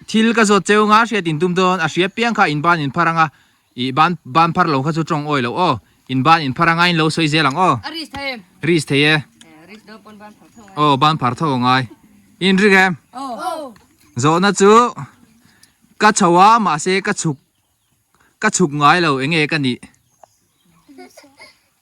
thil ka zawt cheu nga hriat in tum dawn a hria piang kha in ban in phar ang a ih ban ban phar lo kha chu tawng awi loh aw in ban in phar anga in lo sawi zel ang aw a ris thei em ris thei e ris dawr pawn ban phar tho ang aw ban phar tho ang ai in ri em aw zawh na chu ka chho a mah se ka chhuk ka chhuk ngai lo eng nge ka nih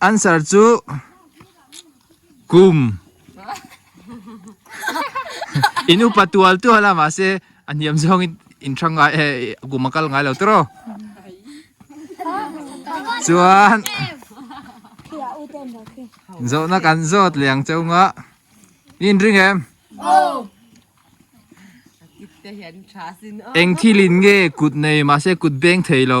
Answer chu kum in upa tual tual a mahse a hniam zawng in in tha ngai e kum a kal ngai lo tawrh aw chuan zawhna kan zawt liang chauh ngah in ring em eng thil in nge kut nei mahse kut beng thei lo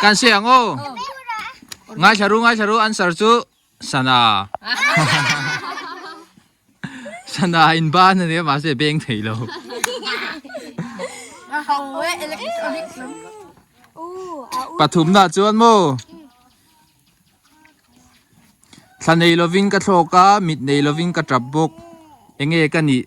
Kan sawi ang aw. Ngaithla ru ngaithla ru answer chu Sana. Sana in ban ania mahse beng thei lo. Pathum na chuan mo. Thla nei lovin ka thlawk a mit nei lovin ka tap bawk. Enge ka nih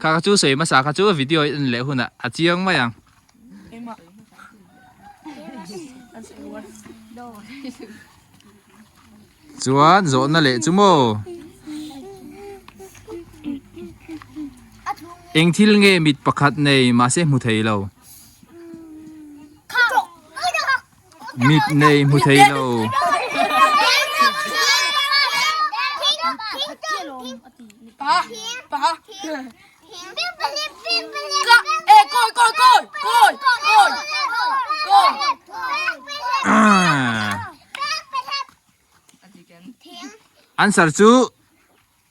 Kha ka chu sawi hmasa kha chu video i en leh hunah a chiang mai ang. Chuan zawhna leh chu maw? Eng thil nge mit pakhat nei mahse hmu thei lo. mitmei hmu thei lo. Answer chu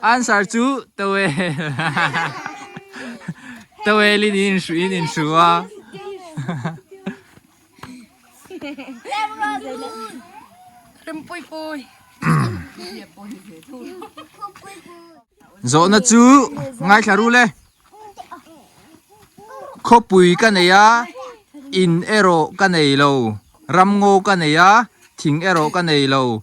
Answer chu towel in in hruh in in hruh a. Zawhna chu ngaithla rul e. Khawpui ka nei a, in erawh ka nei lo. Ramngaw ka nei a, thing erawh ka nei lo.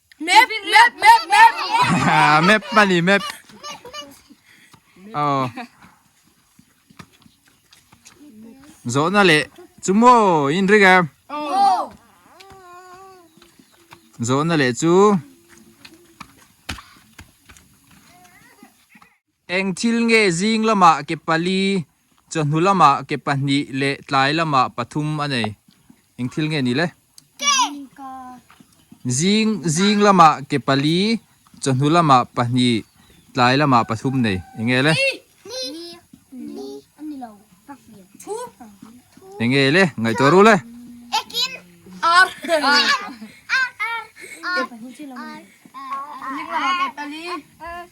Map, map, map, map. map pani map. Oh. Zo na le chu mo in ri ga. Oh. Zo na le chu. Eng thil nge zing lamah ke pali, chawhnu lamah ke pahnih leh tlai lamah pathum a nei? Eng thil nge ni le? Zing zing lamah ke pali, chawhnu lamah pahnih, tlai lamah pathum nei. Eng nge le? Eng nge le? Ngaihtuah ru le? Zing lamah ke pali.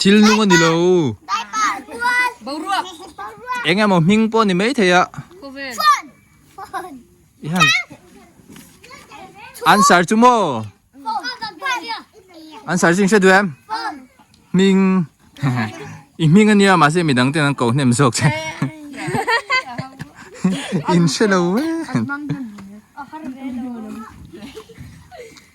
thil nung a ni lo boruak eng emaw hming pawh a ni maithei a answer chu maw answer chu inhre duh em hming i hming a nia mahse midang ten an ko hnem zawk che inhre lo e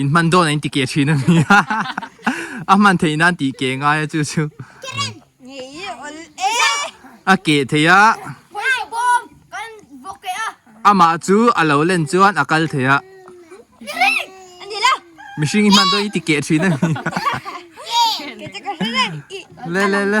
In hman dawn a in ti keh thin a ni a. A hman theih nan tih keh ngai a chu chu. A keh thei a. Amah chu a lo len chuan a kal thei a. Mihring in hman dawn i ti keh thin a ni a. Le le le.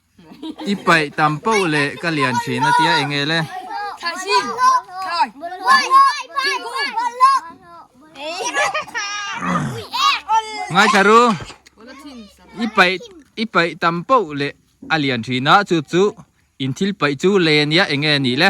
I paih tam poh le ka lian thin a tia eng ele. Ngaithla ru i paih i paih tam poh le a lian thin a chup chu in thil paih chu len ia enge ni le.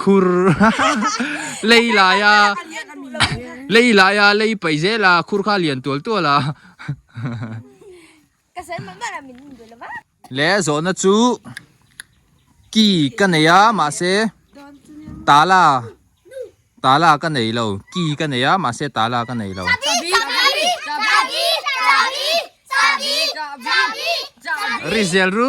Khur lei lai a lei lai a lei pai zel a khur kha lian tual tual a ka sen mah mah min in duh lova le zawhna chu ki ka nei a mahse tala tala ka nei lo ki ka nei a mahse tala ka nei lo rizel ru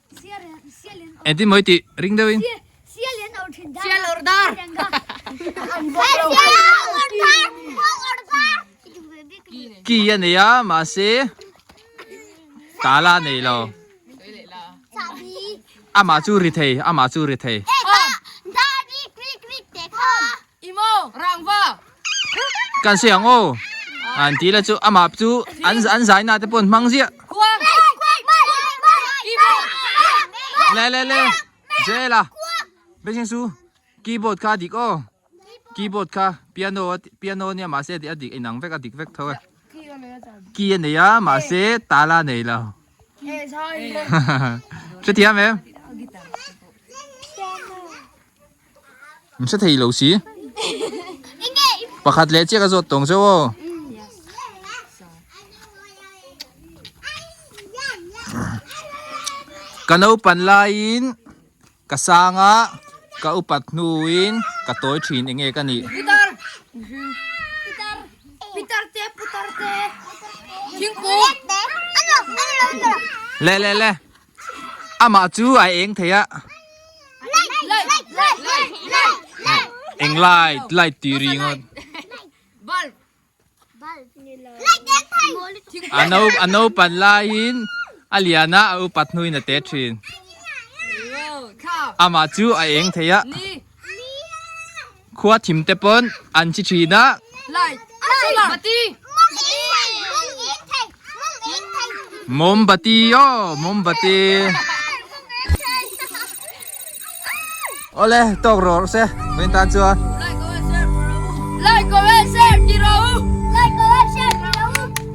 Enti moi ti ring deuh in. Sia lian or thin dar. Sia lor dar. Ki ya nei a ma se. Ta la nei lo. Ama chu ri thei, ama chu ri thei. I maw rangva? Kan sawi ang aw. An ti la chu amah chu an an zaina te pawn hmang ziah. Kuang. Keyboard. Le le le. Zela. Beijing su. Keyboard kha dik aw. Keyboard kha piano piano nia ma se a dik inang vek a dik vek tho e. Key a nei a ma se tala nei lo. Hre thiam em. Hm sa thei lo si pakhat leh chiaka zawt tawng zeuh aw ka naupan laiin ka sanga ka upat hnuin ka tawi thin eng nge ka nih putar putar te putar te thingkung le le le Amah chu a eng thei a. Eng light, light tih ri ngawt. A no, a naupan laiin a lian a, a upat hnuin a te thin. Amah chu a eng thei a. Khua thim te paw'n an chi thin a. Mawmbati aw, mawmbati. Awle, tawk rawh se vawin tan chuan. Like comment share ti rawh u.